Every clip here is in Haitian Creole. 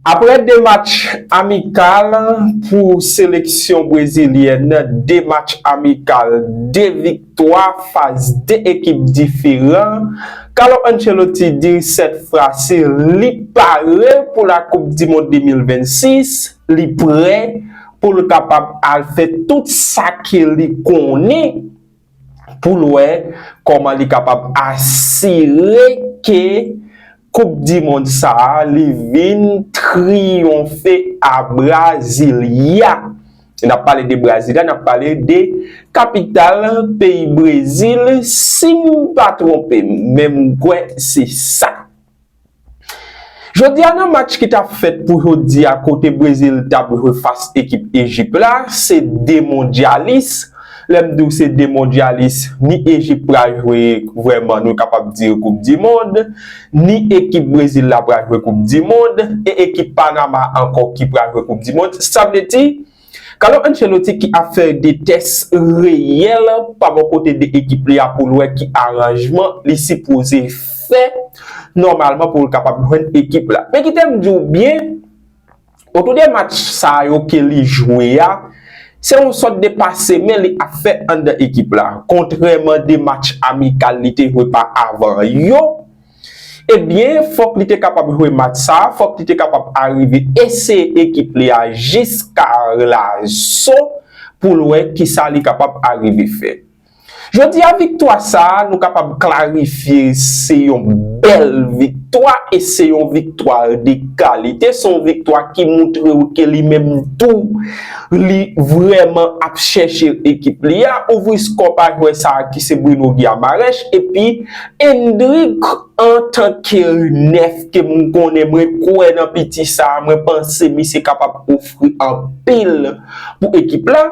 Aprè 2 match amikal pou seleksyon brezilyèn, 2 match amikal, 2 viktwa fas 2 ekip diferan, Carlo Ancelotti di sètfrasi li pare pou la koup di mond 2026, li prè pou l kapab al fè tout sa ke li konnen. pou l wè kòman li kapab asire ke koup di mond sa a li vin triyonfe a Brasilia. N ap pale de Brasilia, n ap pale de kapital peyi Brezil si m pa twonpe m, men m kwè se sa. Jodi a nan match ki tap fèt pou jodi a kote Brezil tap jwe fas ekip Ejip la, se 2 mondyalis, lè m di w se 2 mondyalis, ni Ejip pral jwe vrèman nou kapab di koup di mond, ni ekip Brezil la pral jwe koup di mond, e ekip Panama ankò ki pral jwe koup di mond, sa vle di. Carlo Ancelotti ki ap fè de tès reyèl pa bò kote de ekip li a pou l wè ki aranjman li sipoze fè nòmalman pou l kapab jwenn ekip la. Men kite m di w byen, otou de match sa yo ke li jwe a, se yon sòt de pase men li ap fè anndan ekip la. Kontrèman de match amikal li te jwe pa avan yo, Ebyen, fòk li te kapab jwe match sa, fòk li te kapab arive eseye ekip li a jis ka Arlaso pou l wè kisa li kapab arive fè. Jodi a viktwa sa nou kapab klarifye se yon bèl viktwa e se yon viktwa de kalite, se yon viktwa ki moutre w ke li menm tou li vrèman ap chèche ekip li a, ouvri skò pa jwè sa ki se Bruno Guiamarech epi Endrick antanke Rinèf ke m konnen mwen kwè nan piti sa a mwen panse misye kapab ofri anpil pou ekip la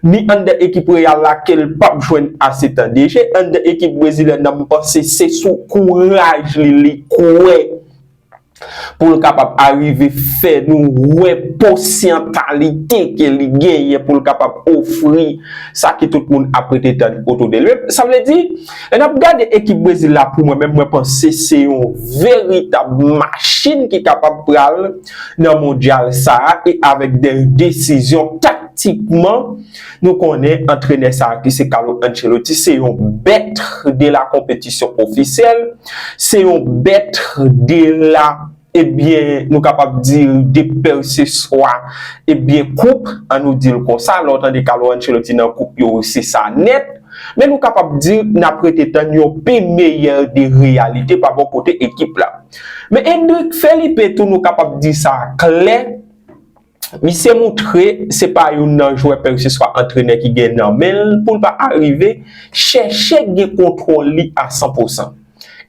ni anndan ekip Real la ke l pap jwenn ase tan de je anndan ekip brezilyèn nan m panse se sou kouraj li li kwè pou l kapab arive fè nou wè posyantalite ke li genyen pou l kapab ofri sa ke tout moun ap rete tann otou de l. Sa vle di, lè n ap gade ekip Brezil la pou mwen menm mwen panse se yon veritab machin ki kapab pral nan mondyal sa a e avèk dè desizyon taktikman Nou konnen antrenè sa a ki se Carlo Ancelotti se yon bèt de la konpetisyon ofisyèl, se yon bèt de la, ebyen, nou kapab di de pèseswa, ebyen, koup, an nou di l konsa, lè w tande Carlo Ancelotti nan koup yo, se sa nèt. Men nou kapab di n ap rete tann yon pi meyè de reyalite pa bò kote ekip la. Men Endrick Felipe tou nou kapab di sa klè. Misye moutre se pa youn nan jwè pèkeseswa antrenè ki gen nan men l pou l pa arive chèche gen kontwòl li a san pou san.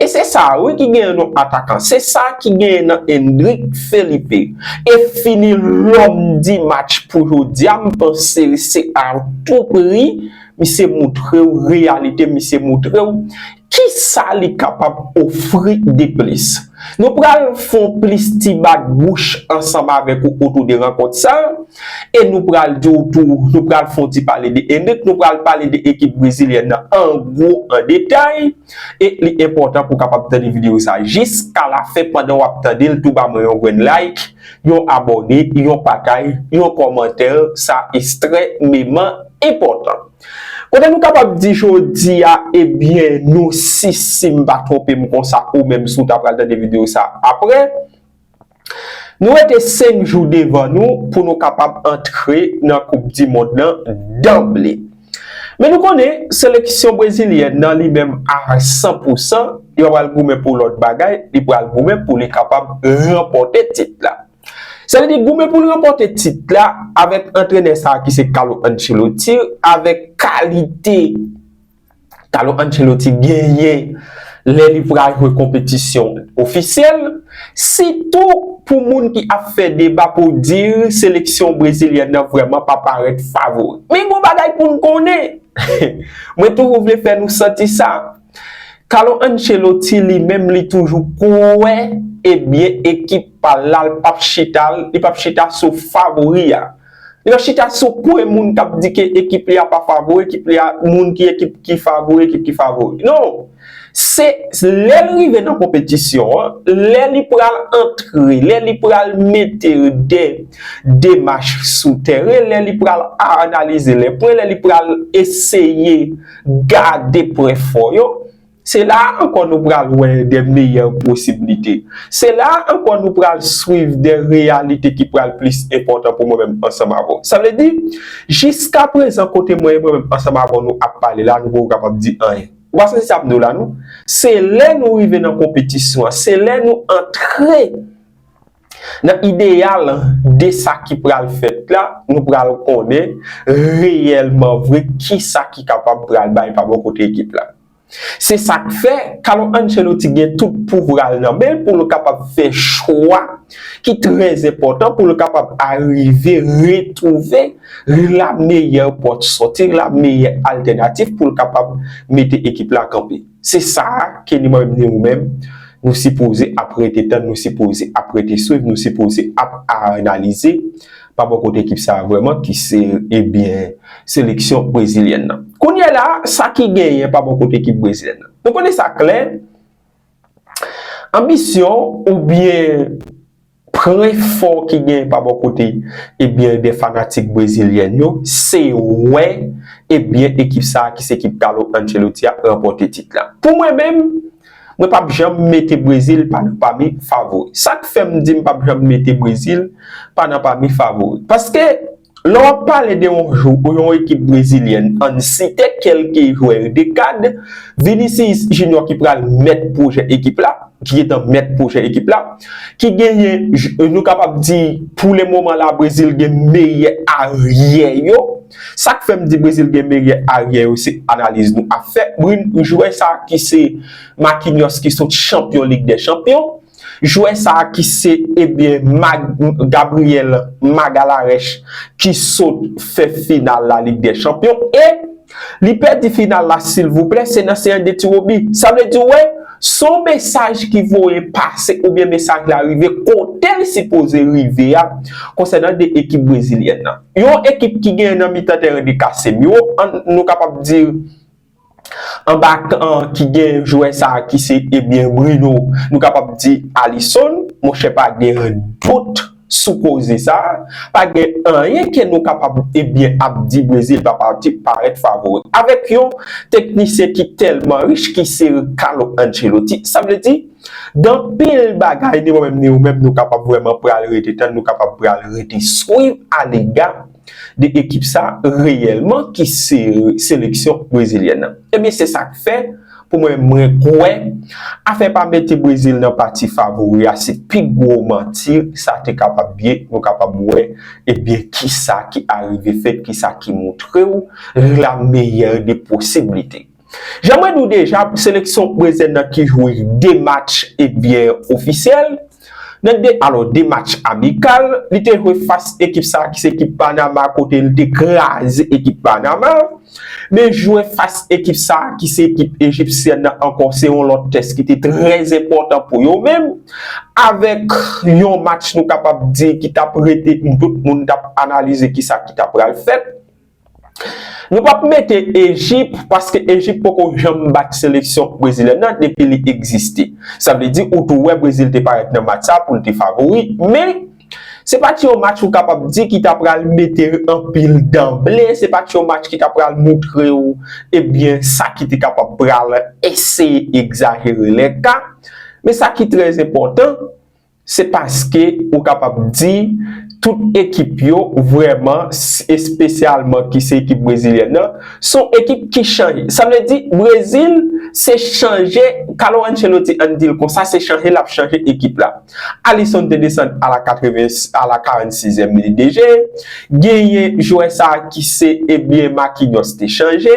E se sa a wi ki genyen nou atakan, se sa a ki genyen nan Endrick Felipe. E fini lòm di match pou jodi a m panse se a tou pri misye moutre w reyalite misye moutre w Ki sa li kapab ofri deplis? Nou pral fè w plis ti bat bouch ansanm avèk ou otou de rankont sa a, e nou pral di w tou, nou pral fè w ti pale de Henrique, nou pral pale de ekip brezilyèn nan an gwo, an detay, e li enpòtan pou w kapab tande videyo sa a jiska lafen, pandan w ap tande l tou ba mwen yon grenn like, yon abòne, yon patay, yon kòmantè, sa estrememan enpòtan. Kote nou kapab di jodi a ebyen nou si si m pa twonpe m konsa ou menm si w ta pral tande videyo sa aprè nou rete 5 jou devan nou pou nou kapab antre nan koup di mond lan danble men nou konnen seleksyon brezilyèn nan li menm a 100 pou 100 li pa pral goumen pou lòt bagay li pral goumen pou li kapab ranpòte tit la. Sa vle di goumen pou l ranpòte tit la avèk antrenè sa ki se Carlo Ancelotti avèk kalite Carlo Ancelotti genyen lè li pral jwe konpetisyon ofisyèl, sitou pou moun ki ap fè deba pou di seleksyon brezilyèn nan vrèman pa parèt favori. Men yon bagay pou n konnen, mwen toujou vle fè nou santi sa, Carlo Ancelotti li menm li toujou kwè e byen ekip pa l la l p ap chita l, li p ap chita sou favori a. Li p ap chita sou pwen moun k ap di ke ekip li a pa favori, ekip li a moun ki ekip ki favori, ekip ki favori. Non! Se lè l rive nan konpetisyon an, lè li pral antre, lè li pral mete de demach sou tèren, lè li pral analize le pwen, lè li pral eseye. Gade pwen fò yo. Se la a ankò nou pral wè de meyè posiblite. Se la a ankò nou pral swiv de reyalite ki pral plis enpòtan pou mwen menm ansanm avè w. Sa vle di, jiska prezan kote mwen menm ansanm avè w nou ap pale la a nou poko kapab di anyen. Ou pa santi sa m di w la non. Se lè nou rive nan konpetisyon an, se lè nou antre Nan ideyal de sa ki pral fèt la, nou pral konnen reyèlman vre ki sa ki kapab pral bay pa bò kote ekip la. Se sa k fè, Carlo Ancelotti gen tout pouvwa l nan men l pou l kapab fè chwa ki trè enpòtan pou l kapab arive retwouve la meyè pòt sòti, la meyè altènatif pou l kapab mete ekip la kanpe. Se sa a ke ni mwen menm ni ou menm, nou sipoze ap rete tann, nou sipoze ap rete swiv, nou sipoze ap analize pa bò kote ekip sa a vrèman ki se ebyen seleksyon brezilyèn nan. Kounye a la, sa ki genyen pa bò kote ekip brezilyèn nan? Nou konnen sa klè, anbisyon oubyen. Pwen fò ki genyen pa bò kote ebyen de fanatik brezilyèn yo, se wè ebyen ekip sa ki se ekip Carlo Ancelotti a ranpòte tit la. Pou mwen menm, mwen pap janm mete Brezil pa nan pami favori. Sak fèm di m pap janm mete Brezil pa nan pami favori? Paske Lè w ap pale de yon jou pou yon ekip brezilyèn ann site kelke jwè de kad, Vinicius Junior ki pral mèt pwojè ekip la, ki gentan mèt pwojè ekip la, ki genyen nou kapab di pou le moman la Brezil gen meyè aryè yo, sa k fè m di Brezil gen meyè aryè yo se analiz nou ap fè, jwè sa ki se Marquinhos ki sot chanpyon lig dè chanpyon. Jwè sa ki se ebyen Mag Gabriel Magalarèch ki sot fè final la lig dè chanpyon e li pèdi final la silvouplè se nan seyans de tiwobi sa vle di wè son mesaj ki voye pase oubyen mesaj la rive kotel sipoze rive a konsènan de ekip brezilyèn nan yon ekip ki gen nan mitan tèren de Casemiro an nou kapab di Anba kan an ki gen jwè sa ki se ebyen Bruno, nou kapab di Alisson, monchè pa gen dout sou koze sa, pa gen anyen ke nou kapab ebyen ap di Brezil pa pati parèt favori. Avèk yon teknisyen ki tèlman rich ki se Carlo Ancelotti, sa vle di gen anpil bagay ni mwen menm ni ou menm nou kapab vrèman pral rete tann, nou kapab pral rete swiv alega. 2 ekip sa reyèlman ki seleksyon brezilyèn nan. Ebyen se sa k fè pou mwen mwen kwè afè pa mete Brezil nan pati favori a se pi gwo manti sa te kapab ye nou kapab wè ebyen ki sa ki arive fèt ki sa ki montre w la meyè de posiblite. Jan mwen di w deja pou seleksyon prezen nan ki jwe 2 match ebyen ofisyèl, nan 2 alò 2 match amikal, li te jwe fas ekip sa ki se ekip Panama kote li te kraze ekip Panama, men jwe fas ekip sa ki se ekip Ejipsyèn nan ankò se yon lòt tès ki te trè enpòtan pou yo menm avèk yon match nou kapab di ki t ap rete pou tout moun t ap analize kisa ki ta pral fèt. Nou pap mete Ejip paske Ejip poko janm bat seleksyon brezilyèn nan depi li egziste. Sa vle di ou tou wè Brezil te parèt nan match sa pou l te favori men se pa t yon match ou kapab di ki ta pral mete anpil danble, se pa t yon match ki ta pral moutre ou ebyen sa ki te kapab pral eseye egzajere lè ka. Men sa ki trèzenpòtan. Se paske ou kapab di tout ekip yo vrèman, espesyalman ki se ekip brezilyèn nan, son ekip ki chanje. Sa vle di Brezil se chanje, Carlo Ancelotti ann di l konsa, se chanje l ap chanje ekip la. Alisson te desann a la 80, a la 46 èm li deje. Genyen jwè sa a ki se ebyen Marquinhos te chanje.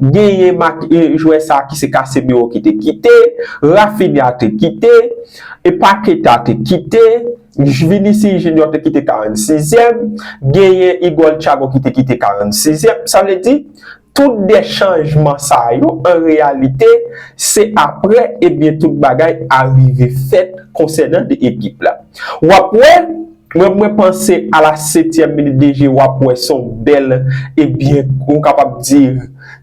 Genyen mak jwè sa ki se Casemiro ki te kite, Raphinha te kite, e Paqueta te kite, Vinicius Junior te kite 46 yèm, genyen Igor Thiago ki te kite 46 yèm. Sa vle di, tout 2 chanjman sa yo an reyalite se aprè ebyen tout bagay arive fèt konsènan 2 ekip la. Wap wè. Mwen mwen panse a la setyèm minit dejeu wap wè son bèl e byen nou kapab di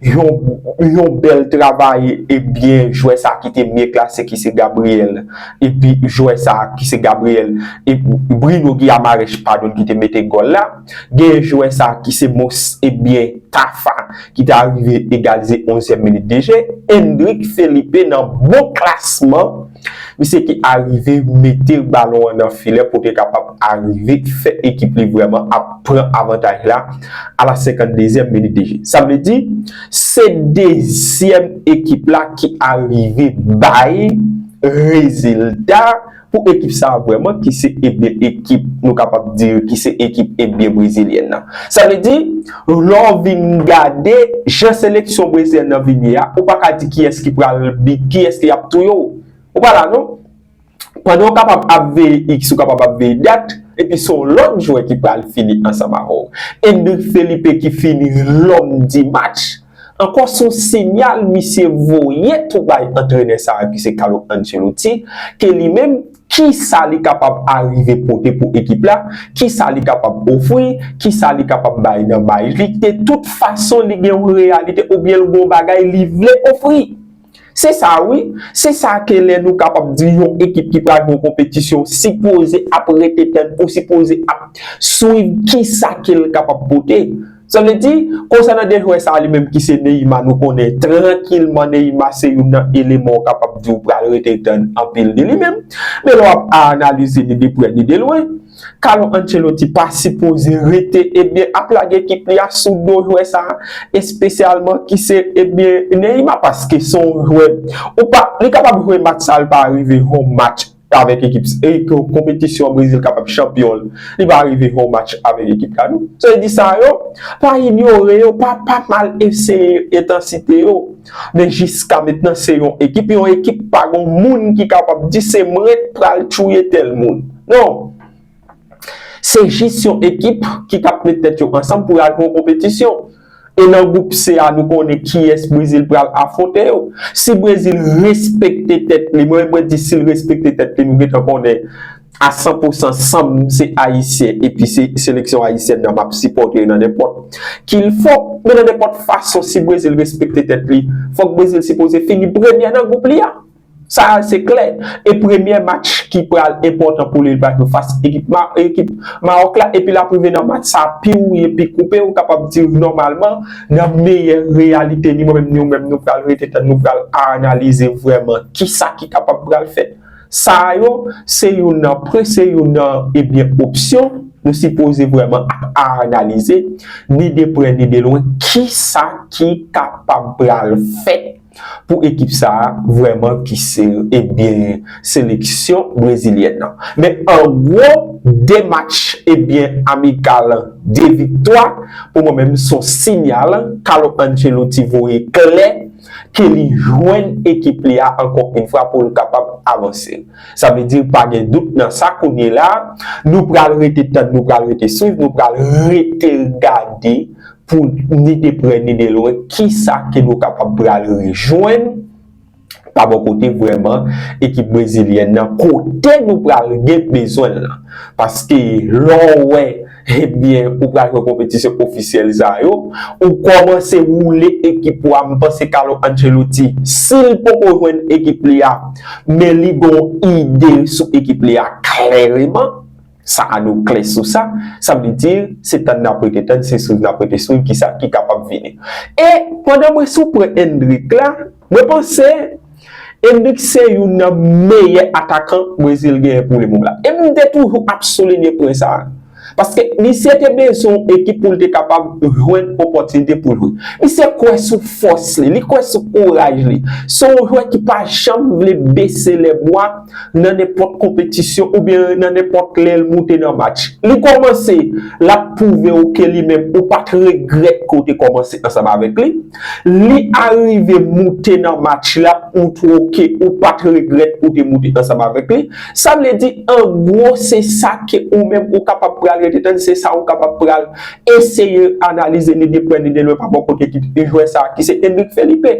yon yon bèl travay e byen jwè sa ki te byen klase ki se Gabriel epi jwè sa ki se Gabriel e Bruno Guiamarech padon ki te mete gòl la genyen jwè sa ki se mons e byen Tafa ki te arive egalize onzyèm minit dejeu Endrick Felipe nan bon klasman Misye ki arive mete balon an nan filè pou te kapab arive fè ekip li vrèman ap pran avantaj la a la 52 zièm minit de je. Sa vle di, se dezyèm ekip la ki arive bay rezilta pou ekip sa a vrèman ki se ekip nou kapab di ki se ekip Ebyen Brezilyèn nan. Sa vle di. Lè w vin gade jan seleksyon brezilyèn nan vin ye a, ou pa ka di kiyès ki pral bi, kiyès ki ap touye w. Ou pa la non. Pandan w kapab ap veye iks, ou kapab ap veye dat, epi se yon lòt jwè ki pral fini ansanm avè w. Endrick Felipe ki fini lòm di match, ankò se yon sinyal misye voye tou bay antrenè sa a ki se Carlo Ancelotti, ke li menm, Kisa li kapab arive pote pou ekip la, kisa li kapab ofri, kisa li kapab bay nan bay li, de tout fason li gen yon reyalite oubyen l gen yon bagay li vle ofri. Se sa wi, se sa ke lè nou kapab di yon ekip ki pral gen yon konpetisyon sipoze ap rete tann ou sipoze ap swiv kisa ke l kapab pote. Sa vle di, konsènan de jwè sa li menm ki se Neymar nou konnen trankilman Neymar se youn nan eleman ou kapab di ou pral rete tann anpil de li menm. Men lè w ap a analize li de prè ni de lwen, Carlo Ancelotti pa sipoze rete ebyen ap lage ekip li a sou do jwè sa espesyalman ki se ebyen Neymar paske se yon jwè ou pa li kapab jwe match sa li pa rive home match avèk ekip sa e ke konpetisyon Brezil kapab chanpyon l, li va rive fè yon match avèk ekip sa tou. Sa vle di sa yo, pa inyore yo, pa pa mal eseye entansite yo. Men jiska mentnan se yon ekip, yon ekip pa gon moun ki kapab di se mwen k pral touye tèl moun. Non! Se jis yon ekip ki t ap met tèt yo ansanm pou y al fè yon konpetisyon. E nan gwoup C a nou konnen kiyès Brezil pral afwonte yo. Si Brezil respekte tèt li, mwen mwen di si l respekte tèt li nou gentan konnen a san pou san san m se ayisyen epi se seleksyon ayisyèn nan m ap sipòte nan nenpòt ki l fò. Men nan nenpòt fason si Brezil respekte tèt li fòk Brezil sipoze fini premyè nan gwoup li a. Sa a se klè, e premyè match ki pral enpòtan pou li l pral fè fas ekip Mawòk la epi l ap rive nan match sa a pi wouye pi koupe ou kapab di nòmalman nan meyè reyalite li mwen menm ni ou menm nou pral rete tann nou pral analize vrèman kisa ki kapab pral fèt. Sa a yo se youn nan pre se youn nan ebyen opsyon nou sipoze vrèman ap analize ni de prè ni de lwen kisa ki kapab pral fèt. Pou ekip sa a vrèman ki se e byen seleksyon brezilyèn nan. Men an gwo 2 match e byen amikal 2 viktwa pou mwen menm son sinyal Carlo Ancelotti voye klè ke li jwenn ekip li a ankò yn fwa pou l kapab avanse. Sa vle di pa gen dout nan sa kounyela nou pral rete tann nou pral rete swiv nou pral rete gade pou ni de prè ni de lwen kisa ke nou kapab pral rejwenn pa bò kote vrèman ekip brezilyèn nan kote nou pral gen bezwen l lan. Paske lè w wè ebyen ou pral jwe konpetisyon ofisyèl sa yo, ou kòmanse woule ekip ou a, m panse Carlo Ancelotti si l poko jwenn ekip li a men li gon ide sou ekip li a klèreman. Sa a nou klè sou sa, sa vle di, se tann n ap rete tann, se swiv n ap rete swiv ki sa ki kapab vini. E, pandan mwen sou pwen Endrick la, mwen panse, Endrick se youn nan meyè atakan Brezil genyen pou le mom la. E m te toujou ap soulinye pwen sa a. Paske, misye te bezwen yon ekip pou l te kapab jwenn opòtinite pou l jwe. Misye kwè sou fòs li, li kwè sou kouraj li. Se yon jwè ki pa janm vle bese lèbwa. nan nenpòt konpetisyon oubyen nan nenpòt lè l moute nan match. Li kòmanse, l ap pwouve w ke li menm ou pa t regrèt ke w te kòmanse ansanm avèk li. Li arive moute nan match la, ou twou ke ou pa t regrèt ou te moute ansanm avèk li. Sa vle di an gwo se sa ke ou menm ou kapab pral rete tann, se sa ou kapab pral eseye analize ni de prè ni de lwen pa bò kote ekip jwè sa ki se Endrick Felipe.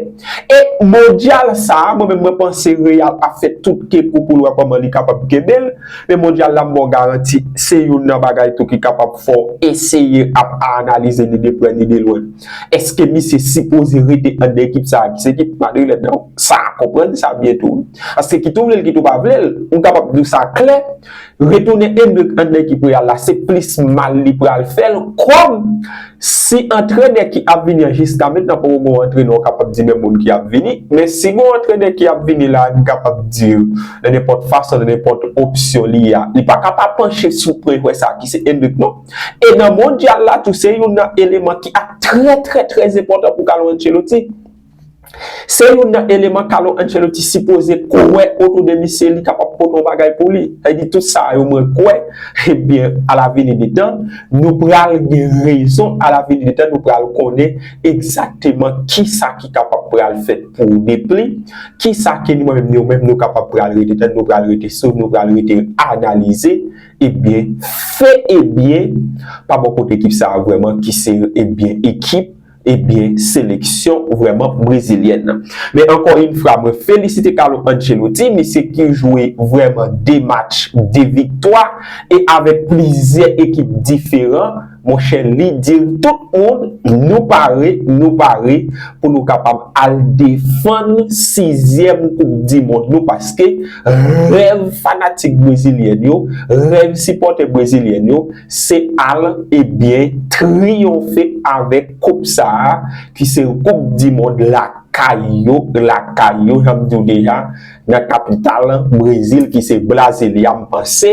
E mondyal sa a, mwen menm mwen panse Real ap fè tout ke pou pou l wè kòman li kapab kenbe l. Men mondyal la m ba w garanti, se youn nan bagay tou ki kapab fè w eseye ap aanalize ni de prè ni de lwen. Eske misye sipoze rete anndan ekip sa a ki se ekip madrilèn nan? Sa a konprann sa byen tou. Paske kit ou vle l kit ou pa vle l, m kapab di w sa klè, Retounen Endrick an nan ekip Real la se plis mal li pral fè l kòm si antrenè ki ap vini an jiska mentnan poko gen yon antrenè ou kapab di men moun ki ap vini men si gen yon antrenè ki ap vini la n kapab di nan nenpòt fason nan nenpòt opsyon li a li pa ka pa panche sou pwen jwè sa ki se Endrick non e nan mondyal la tou se youn nan eleman ki ap trè trè trèzenpòtan pou Carlo Ancelotti. Se youn nan eleman Carlo Ancelotti sipoze kwè otou de misye li kapab pote yon bagay pou li. Sa vle di tout sa yo mwen kwè, ebyen a la vini de tan, nou pral gen rezon, a la vini de tan nou pral konnen egzakteman kisa ki kapab pral fèt pou Depli, kisa ke nou menm nou menm nou kapab pral rete tann, nou pral rete sou, nou pral rete analize, ebyen, fè ebyen pa bò kote ekip sa a vrèman ki se ebyen ekip. Ebyen seleksyon vrèman brezilyèn nan. Men ankò yn fwa mwen felisite Carlo Ancelotti, misye ki jwe vrèman 2 match, 2 viktwa e avèk plizyè ekip diferan, monchè li dir tout moun nou pare, nou pare pou nou kapab al defann 6 zièm koup di mond nou paske rèv fanatik brezilyèn yo, rèv sipòtè brezilyèn yo, Se al e byen triyonfe avèk koup sa a ki se koup di mond lakay yo, lakay yo jan m di w deja nan kapital Brezil ki se Brasilia m panse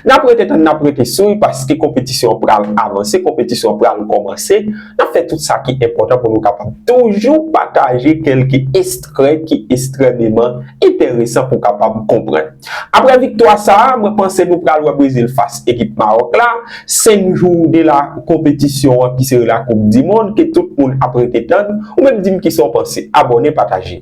n ap rete tann n ap rete swiv paske konpetisyon an pral avanse, konpetisyon an pral kòmanse n ap fè tout sa ki enpòtan pou nou kapab toujou pataje kèlke estrè ki estrèmeman enteresan pou kapab konprann. Aprè viktwa sa a, mwen panse nou pral wè Brezil fas ekip Mawòk la, 5 jou de la konpetisyon an ki sere la koup dimond ke tout moun ap rete tann, ou menm di m kisa w panse, abòne pataje.